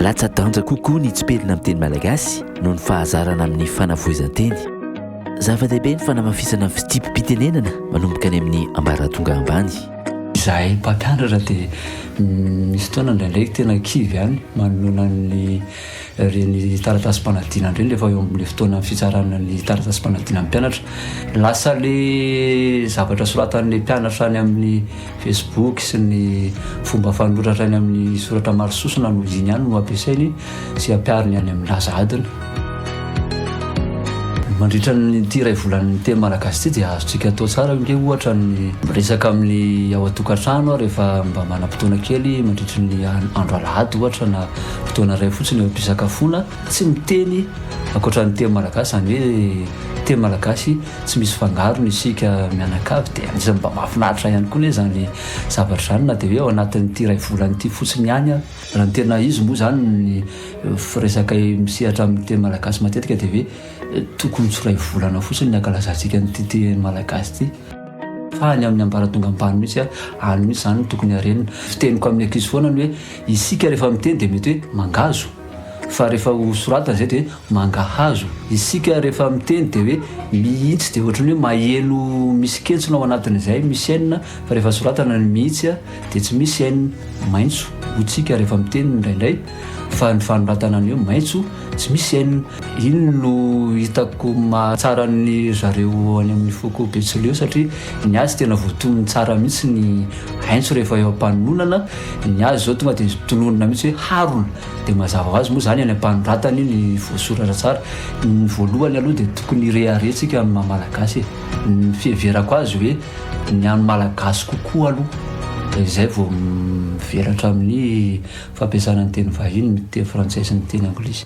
Latsa-danja kokoa ny tsipelina amin'ny teny malagasy noho ny fahazarana amin'ny fanavoizan-teny. Zava-dehibe ny fanamafisana ny fitsipi-pitenenana manomboka any amin'ny ambaratonga ambany. Izahay mpampianatra dia misy fotoana indraindray tena kivy ihany manoloana ny Ireny taratasim-panadinana ireny rehefa eo amin'ilay fotoanan'ny fitsarana ny taratasim-panadinan'ny mpianatra. Lasa ilay zavatra soratan'ilay mpianatra any amin'ny Facebook sy ny fomba fanoratra any amin'ny soratra maro sosona no iny ihany no ampiasainy sy ampihariny any amin'ny laza adina. Mandritra an'ity iray volan'ny teny malagasy ity dia azontsika atao tsara hoe ohatra ny miresaka amin'ny ao an-tokantrano rehefa mba manam-potoana kely mandritra ny andro alahady ohatra na fotoana iray fotsiny eo am-pisakafoana, tsy miteny ankoatra ny teny malagasy, izany hoe teny malagasy tsy misy fangarony isika mianakavy, dia anisan'ny mba mahafinaritra ihany koa anie izany zavatra izany na dia hoe ao anatin'ity iray volana ity fotsiny ihany ary. Raha ny tena izy moa izany ny resaka misehatra amin'ny teny malagasy matetika dia hoe tokony tsy ho iray volana fotsiny ny hankalazantsika an'ity teny malagasy ity fa any amin'ny ambaratonga ambany mihitsy, any mihitsy izany no tokony harenina. Fiteniko amin'ny ankizy foana ny hoe. Isika rehefa miteny dia mety hoe mangazo fa rehefa ho soratana izay dia hoe mangahazo. Isika rehefa miteny dia hoe mihitsy dia ohatran'ny hoe maheno misy kentsona ao anatiny izay misy n fa rehefa soratana ny mihitsy dia tsy misy n. Maitso hoy tsika rehefa miteny indraindray fa ny fanoratana ny hoe maitso tsy misy n. Iny no hitako mahatsara ny zareo any amin'ny foko betsileo satria ny azy tena voatonony tsara mihitsy ny aintso rehefa eo am-panononana. Ny azy izao tonga dia tononina mihitsy hoe harona. Dia mazava ho azy moa izany any am-panoratany ny voasoratra tsara. Ny voalohany aloha dia tokony hirehareha antsika amin'ny maha malagasy e. Ny fiheverako azy hoe ny an'ny malagasy kokoa aloha dia izay vao mivelatra amin'ny fampiasana ny teny vahiny, ny teny frantsay sy ny teny anglisy.